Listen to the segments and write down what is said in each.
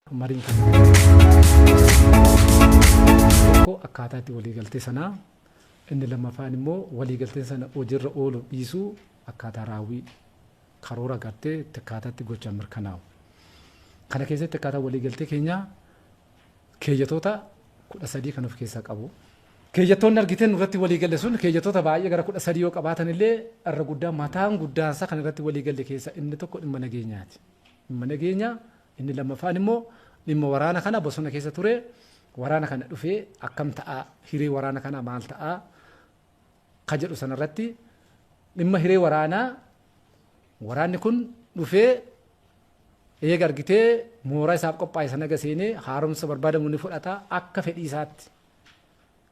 Mariin kan tokko akkaataa itti waliigaltee sanaa inni lammaffaan immoo waliigalteen sana hojiirra ooluu dhiisuu akkaataa raawwii karoora gartee itti akkaataa itti gochaan mirkanaa'u. Kana keessatti akkaataa waliigaltee keenyaa keeyyatoota kudha sadii kan of keessaa qabu. Keeyyattoonni argiteen irratti waliigalle sun keeyyattoota baay'ee gara kudha sadii yoo qabaatan illee irra guddaa mataan guddaansaa kan irratti waliigalle keessaa inni tokko dhimma nageenyaati. Dhimma nageenyaa Inni lammaffaan immoo dhimma waraana kana bosona keessa ture waraana kana dhufee akkam ta'a hiree waraana kanaa maal ta'a ka jedhu sanarratti dhimma hiree waraanaa waraanni kun dhufee eega argitee mooraa isaaf qophaa'e sana eega seenee haaromsa barbaadamu ni fudhata akka fedhii isaatti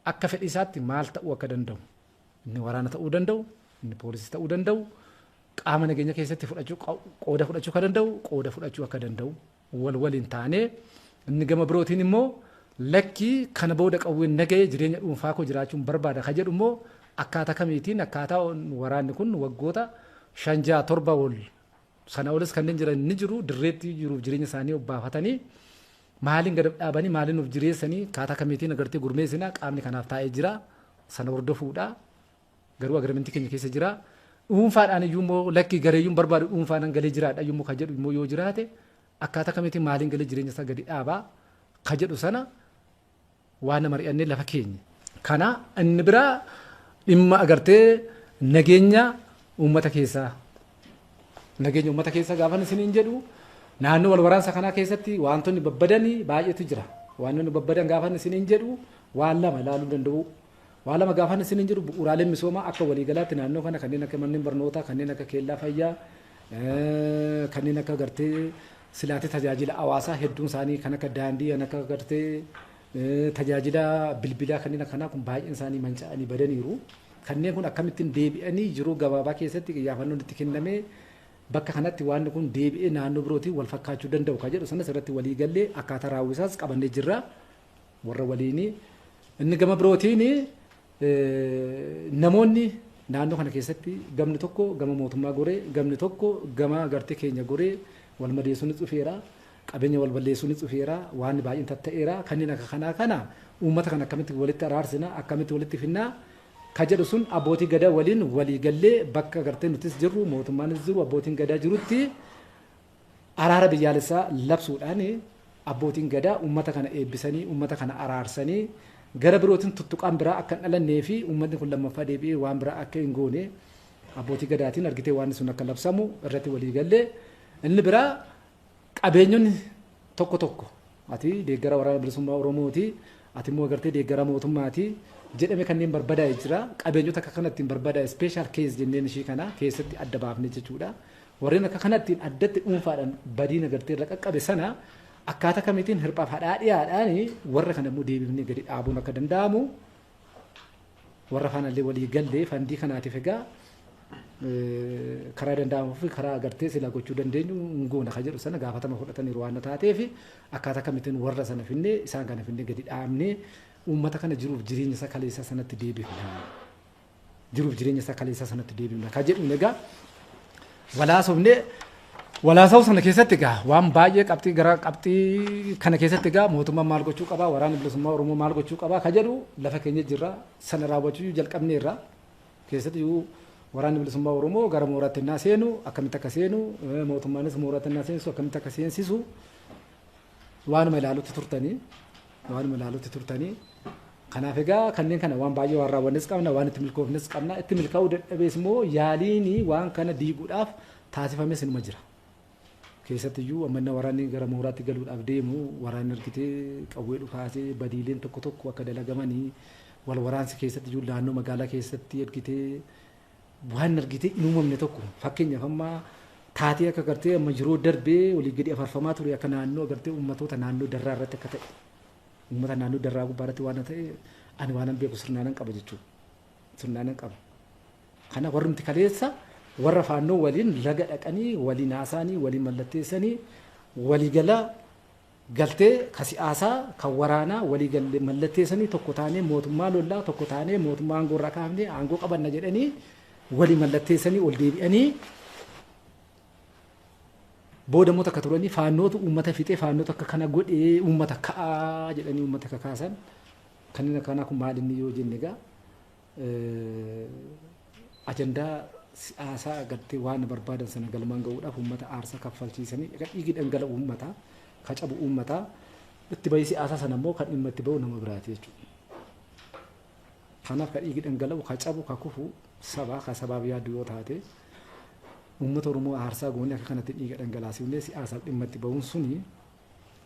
Akka fedhii isaatti maal ta'uu akka danda'u, inni waraana ta'uu danda'u, inni poolisii ta'uu danda'u, qaama nageenya keessatti fudhachuu qooda fudhachuu akka danda'u, qooda fudhachuu akka danda'u wal waliin taanee inni gama birootiin immoo lakkii kana booda qawween naga'ee jireenya dhuunfaa koo jiraachuun barbaada ka jedhu immoo akkaataa kamiitiin akkaataa waraanni kun waggoota shan ja'a torba ol sana olis kanneen jiran ni jiru dirreetti jiruuf jireenya isaanii obbaafatanii Maaliin gad of dhaabanii, maaliin of jireessanii, akkaataa kamiitiin agartee gurmeessina qaamni kanaaf taa'ee jira. Sana hordofuudha. Garuu agreementii keenya keessa jira. Dhuunfaadhaan iyyuu immoo lakkii gareeyyuun barbaadu dhuunfaadhaan galee jiraadha iyyuu immoo kan jedhu immoo yoo jiraate akkaataa kamiitiin maaliin galee jireenya isaa gadi dhaabaa kan jedhu sana Waana mari'anne lafa keenya. Kana inni biraa dhimma agartee nageenya uummata keessaa. Nageenya uummata keessaa gaafan isiniin jedhu naannoo wal waraansa kanaa keessatti wantoonni babbadanii baay'eetu jira. Wantoonni babbadan gaafan isiniin jedhu waan lama ilaaluu danda'u. Waa lama gaafan isiniin jedhu bu'uuraaleen misoomaa akka waliigalaatti naannoo kana kanneen akka manneen barnootaa, kanneen akka keellaa fayyaa, kanneen akka gartee silaatee tajaajila hawaasaa hedduun isaanii kan akka daandii, kan akka gartee tajaajila bilbilaa kanneen akkanaa kun baay'een isaanii manca'anii badaniiru. Kanneen kun akkamittiin deebi'anii jiruu gabaabaa keessatti qiyyaafannoon itti kennamee bakka kanatti waan kun deebi'ee naannoo birootiin wal fakkaachuu danda'u kan jedhu sanas irratti walii gallee akkaataa raawwisaas qabannee jirra. warra waliinii inni gama birootiin namoonni naannoo kana keessatti gamni tokko gama mootummaa goree gamni tokko gama gartee keenya goree wal madeessuun dhufeera qabeenya wal balleessuun dhufeera waan baay'een tatta'eera kanneen akka kanaa kana uummata kana akkamitti walitti araarsina akkamitti walitti finnaa ka jedhu sun abbootii gadaa waliin walii gallee bakka gartee nutis jirru mootummaanis jiru abbootiin gadaa jirutti Araara biyyaalessaa labsuudhaan abbootiin Gadaa uummata kana eebbisanii, uummata kana araarsanii gara birootiin tuttuqaan biraa akka hin dhalannee fi uummatni kun lammaffaa deebi'ee waan biraa akka hin goone abbootii Gadaatiin argitee waanni sun akka labsamu irratti walii galle. Inni biraa qabeenyonni tokko tokko ati deeggara waraana bilisummaa Oromooti ati immoo agartee deeggara mootummaati jedhame kanneen barbadaa'e jira. Qabeenyota akka kana ittiin barbadaa'e special case jenneen ishii kana keessatti adda baafne jechuudha. Warreen akka kanattiin addatti dhuunfaadhan badii nagartee irra qaqqabe sana akkaata kamitiin hirphaaf hadhaadhiyaadhaan warra kana immoo deebifnee gadi dhaabuun akka danda'amu warra faanallee walii gallee fandii kanaatiif egaa karaa danda'amuu fi karaa agartee silaa gochuu dandeenyu hin goona kan jedhu sana gaafatama fudhataniiru waan taatee fi akkaataa kamitiin warra sana finnee isaan kana finnee gadi dhaabnee uummata kana jiruuf jireenya isa kaleessa sanatti deebifna. jiruuf jireenya isaa kaleessaa sanatti deebi'uudha. Kan jedhuun egaa walaasofne walaasa'uu sana keessatti egaa waan baay'ee qabxii gara qabxii kana keessatti egaa mootummaan maal gochuu qabaa waraanni bilisummaa Oromoo maal gochuu qabaa kan jedhu lafa keenya jirra sana raawwachuu jalqabneerra keessatti iyyuu waraanni bilisummaa Oromoo gara mooraatti innaa seenu akkamitti akka seenu mootummaanis mooraatti innaa seensu akkamitti akka seensisu Waanuma ilaalutti turtanii waanuma ilaalutti turtanii kanaaf egaa kanneen kana waan baay'ee waan raawwannes qabna waan itti milkoofnes qabna itti milkaa'uu dadhabees immoo yaaliin waan kana diiguudhaaf taasifames inuma jira. Keessatti iyyuu ammanna waraanni gara mooraatti galuudhaaf deemu waraanni argitee qawwee dhukaasee badiileen tokko tokko akka dalagamanii wal waraansi keessatti iyyuu naannoo magaalaa keessatti argitee waan argitee hin uumamne tokko fakkeenyaaf amma taatee akka gartee amma yeroo darbee olii gadi afarfamaa ture akka naannoo gartee uummatoota naannoo darraa irratti akka ta'e uummata naannoo darraa gubbaa irratti waan ta'e ani waanan beeku sirnaanan qaba jechuudha. Sirnaanan qaba. Kana warrumti kaleessa warra faannoo waliin laga dhaqanii waliin haasaanii waliin mallatteessanii waliigalaa galtee ka si'aasaa, ka waraanaa walii galle mallatteessanii tokko taanee mootummaa lollaa, tokko taanee mootummaa aangoo irraa kaafnee aangoo qabanna jedhanii walii mallatteessanii ol deebi'anii booda immoo takka turanii faannootu uummata fixee faannootu akka kana godhee uummata ka'aa jedhanii uummata kakaasan kanneen akkanaa kun maal inni yoo jenne egaa ajandaa siyaasaa agartee waan barbaadan sana galmaan ga'uudhaaf uummata aarsaa kaffalchiisanii egaa dhiigi dhangala'u uummataa ka cabu uummataa itti bahii siyaasaa sana immoo kan dhimma itti bahu nama biraati jechuudha. Kanaaf ka dhiigi dhangala'u ka cabu ka kufu sabaa ka sabaaf yaadu yoo taate uummata Oromoo aarsaa goonee akka kanatti dhiiga dhangalaasifnee siyaasaaf dhimma itti bahuun suni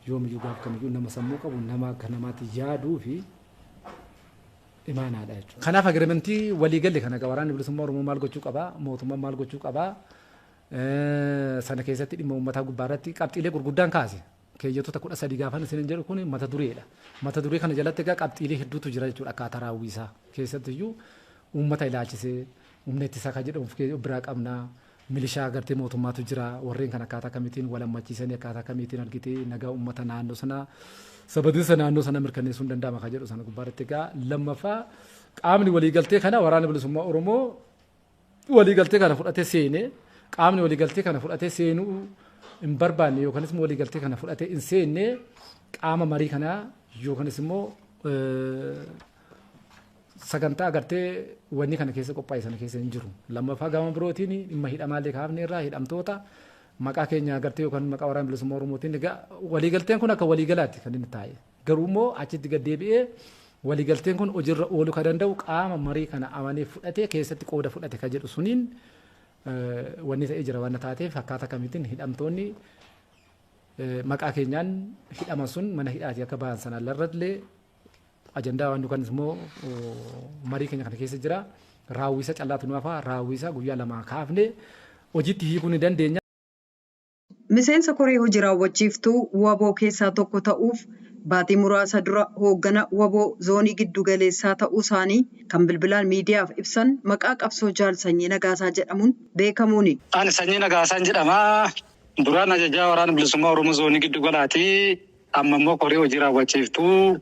yoomiyyuu gaaf kamiyyuu nama sammuu qabu nama akka namaatti yaaduu fi imaanaa dha jechuudha. Kanaaf agreementii walii galle kana egaa waraanni bilisummaa Oromoo maal gochuu qaba, mootummaan maal gochuu qaba, sana keessatti dhimma uummataa gubbaa irratti qabxiilee gurguddaan kaase. Keeyyatoota kudha sadii gaafan isin jedhu kun mata dureedha. Mata duree kana jalatti egaa qabxiilee hedduutu jira jechuudha akkaataa raawwii isaa. Keessattiyyuu uummata ilaalchisee humna ittisaa kan jedhamu biraa qabna. Milishaa gartee mootummaatu jira. Warreen kana akkaataa kamiitiin wal hammachiisanii akkaataa kamiitiin argiti nagaa uummata naannoo sanaa sabadinsa naannoo sana mirkaneessuun danda'ama kan jedhu sana gubbaa irratti egaa lammaffaa qaamni waliigaltee kana waraana bilisummaa Oromoo waliigaltee kana fudhatee seenee qaamni waliigaltee kana fudhatee seenuu hin barbaanne yookanis immoo waliigaltee kana fudhatee hin seenne qaama marii kanaa yookanis immoo sagantaa agartee wanni kana keessa qophaa'e sana keessa hin jiru. Lammaffaa gama birootiin dhimma hidhamaallee kaafne irraa hidhamtoota maqaa keenya agartee yookaan maqaa waraana bilisummaa Oromootiin egaa waliigalteen kun akka waliigalaatti kan inni taa'e. Garuu immoo achitti gad deebi'ee waliigalteen kun hojiirra ooluu kan danda'u qaama marii kana amanee fudhatee keessatti qooda fudhate kan jedhu suniin wanni ta'ee jira waan taateef akkaataa kamiitiin hidhamtoonni maqaa keenyaan hidhaman sun mana hidhaati akka ba'an sanaan irrattillee Ajandaa waan dukanis immoo marii keenya kana keessa jira. Raawwiisa callaatu nu hafa. Raawwiisa guyyaa lamaa kaafne hojiitti hiikuu ni dandeenya. Miseensa koree hojii raawwachiiftuu wbo keessaa tokko ta'uuf baatii muraasa dura hooggana wbo zoonii giddu galeessaa ta'uu isaanii kan bilbilaan miidiyaaf ibsan maqaa qabsoo Jaal Sanyii Nagaasaa jedhamuun beekamuuni. Ani Sanyii Nagaasaan jedhama. Duraan ajajaa Waraana Bilisummaa Oromoo Zoonii Giddu Galaati. Amma immoo koree hojii raawwachiiftuu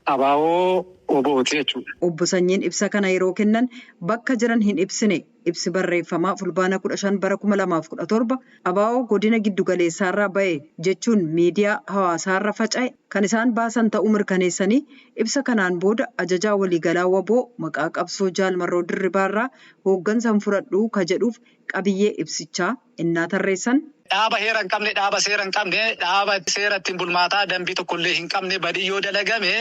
abo, wbo ti jechuudha. Obbo Sanyiin ibsa kana yeroo kennan bakka jiran hin ibsine. Ibsi barreeffamaa Fulbaana 15 bara 2017 abo godina giddu galeessaarraa ba'e jechuun miidiyaa hawaasaarra faca'e kan isaan baasan ta'uu mirkaneessanii, ibsa kanaan booda Ajajaa Waliigalaa wbo maqaa qabsoo Jaal Marroo Dirribaarraa hooggansa hin fudhadhu ka jedhuuf qabiyyee ibsichaa ennaa tarreessan. Dhaaba heera hin qabne, dhaaba seera hin qabne, dhaaba seera ittiin bulmaataa, danbii tokko illee hin qabne, badiin yoo dalagame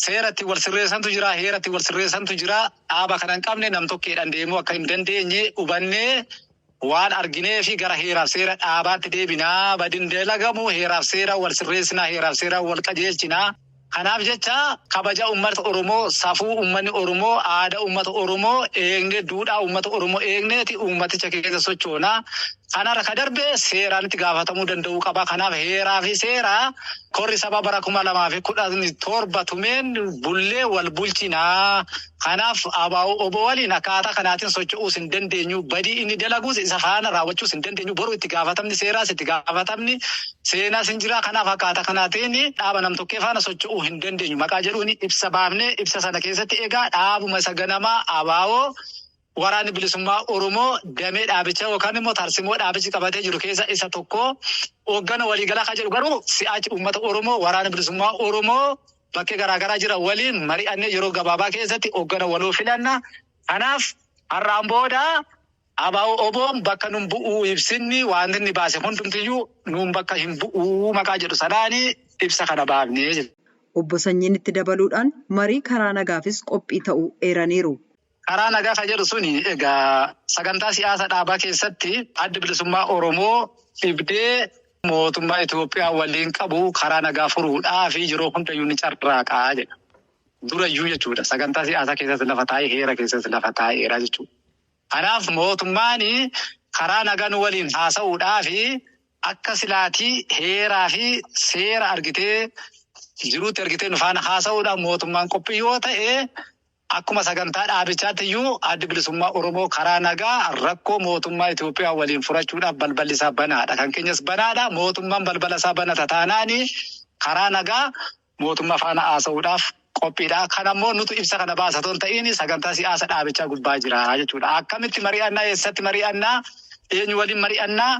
seera ittiin wal sirreessantu jira, heera ittiin wal sirreessantu jira. Dhaaba kana hin qabne nam-tokkeedhaan deemuu akka hin dandeenye hubannee waan argineefi gara heeraaf seera dhaabaatti deebina. Badiin dalagamu heeraaf seeraan wal sirreessina, heeraaf seeraan wal qajeelchina. Kanaaf jecha kabaja ummata Oromoo, safuu ummani Oromoo, aada ummata Oromoo eegne, duudhaa ummata Oromoo eegneeti uummaticha keessa sochoona. Kanarra ka darbe seeraan itti gaafatamuu danda'uu qaba. Kanaaf heeraa fi seera korri sabaa bara 2017 tumeen bullee wal bulchina. Kanaaf ABO-wbo waliin akkaataa kanaatiin socho'uus hin dandeenyu, badii inni dalaguus isa faana raawwachuus hin dandeenyu, boru itti gaafatamni seeraas itti gaafatamni seenaas hin jira, kanaaf akkaataa kanaatiin dhaaba nam-tokkee faana socho'uu hin dandeenyu maqaa jedhuun ibsa baafne, ibsa sana keessatti egaa dhaabuma isa ganamaa ABO Waraanni Bilisummaa Oromoo damee dhaabichaa yookaan immoo tarsimoo dhaabichi qabatee jiru keessa isa tokko, hooggana waliigalaa kan jedhu garuu si'aachi uummata Oromoo, Waraana Bilisummaa Oromoo, bakke garaa garaa jiran waliin mari'annee yeroo gabaabaa keessatti hoggana waloo filanna. Kanaaf har'aan booda ABO-OBOn bakka nun bu'u ibsinni waanti inni baase hundumtiyyuu nuun bakka hin bu'u maqaa jedhu sanaan ibsa kana baafne. Obbo Sanyiin itti dabaluudhaan marii karaa nagaafis qophii ta'uu eeraniiru. Karaa nagaa kan jedhu suni egaa sagantaa siyaasa dhaabaa keessatti addi bilisummaa Oromoo dhibdee mootummaa Itoophiyaa waliin qabu karaa nagaa furuudhaa fi yeroo hundayyuu ni carraaqaa jedha. Durayyuu jechuudha sagantaa siyaasaa keessatti lafa taa'ee heera keessatti lafa taa'eera jechuudha. Kanaaf mootummaan karaa nagaa nu waliin haasa'uudhaa fi akka silaatii heeraa fi seera argitee jiruutti argitee nu faana haasa'uudhaan mootummaan qophii yoo ta'e Akkuma sagantaa dhaabichaatti iyyuu Addi Bilisummaa Oromoo karaa nagaa rakkoo mootummaa Itoophiyaa waliin furachuudhaaf balballi isaa banaa dha. Kan keenyas banaa dha. Mootummaan balbala isaa banata taanaan karaa nagaa mootummaa faana haasa'uudhaaf qophii dha. Kana immoo nutu ibsa kana baasa otoo hin ta'iin sagantaa siyaasa dhaabichaa gubbaa jira jechuu dha. Akkamitti mari'annaa? Eessatti mari'annaa? Eenyu waliin mari'annaa?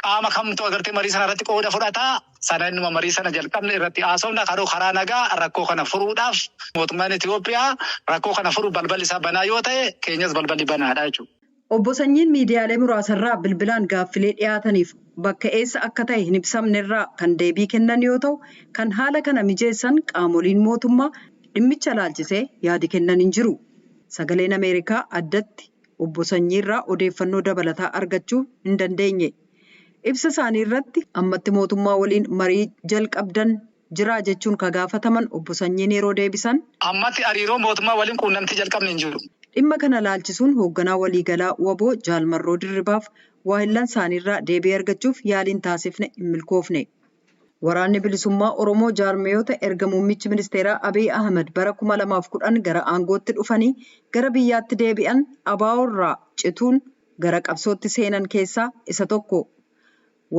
Qaama kamtu agartee marii sana irratti qooda fudhata? sana innuma marii sana jalqabne irratti haasofna karoo karaa nagaa rakkoo kana furuudhaaf mootummaan Itoophiyaa rakkoo kana furuu balballi isaa banaa yoo ta'e keenyas balballi banaadha jechuudha. Obbo Sanyiin miidiyaalee muraasarraa bilbilaan gaaffilee dhiyaataniif bakka eessa akka ta'e hin ibsamnerraa kan deebii kennan yoo ta'u, kan haala kana mijeessan qaamoliin mootummaa dhimmicha ilaalchisee yaadi kennan hin jiru. Sagaleen Ameerikaa addatti Obbo Sanyiirraa odeeffannoo dabalataa argachuu hin dandeenye. Ibsa isaanii irratti ammatti mootummaa waliin marii jalqabdan jiraa jechuun ka gaafataman Obbo Sanyiin yeroo deebisan. Ammatti hariiroo mootummaa waliin quunnamtii jalqabne hin jiru. Dhimma kana ilaalchisuun hoogganaa waliigalaa wbo Jaal Marroo Dirribaaf waahillan isaanii irraa deebii argachuuf yaaliin taasifne hin milkoofne. Waraanni Bilisummaa Oromoo jaarmiyoota erga muummichi ministeeraa Abiy Ahimad bara 2010 gara aangootti dhufanii gara biyyaatti deebi'an ABO irraa cituun gara qabsootti seenan keessaa isa tokko.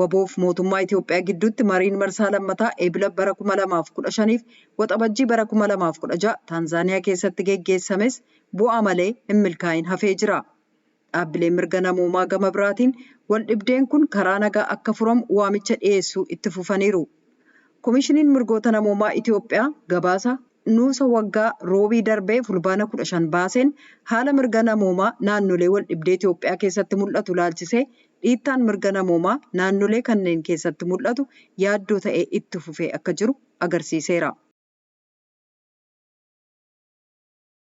Waboof mootummaa Itoophiyaa gidduutti mariin marsaa lammataa Eebila bara 2015f Waxabajjii bara 2016 Taanzaaniyaa keessatti geggeessames bu'aa malee hin milkaa'in hafee jira. Dhaabbileen mirga namoomaa gama biraatiin waldhibdeen kun karaa nagaa akka furamu waamicha dhiyeessuu itti fufaniiru. Komishiniin Mirgoota Namoomaa Itiyoophiyaa gabaasa nuusa waggaa Roobii darbee Fulbaana 15 baaseen haala mirga namoomaa naannolee waldhibdee Itiyoophiyaa keessatti mul'atu ilaalchisee dhiittaan mirga namoomaa naannolee kanneen keessatti mul'atu yaaddoo ta'ee itti fufee akka jiru agarsiiseera.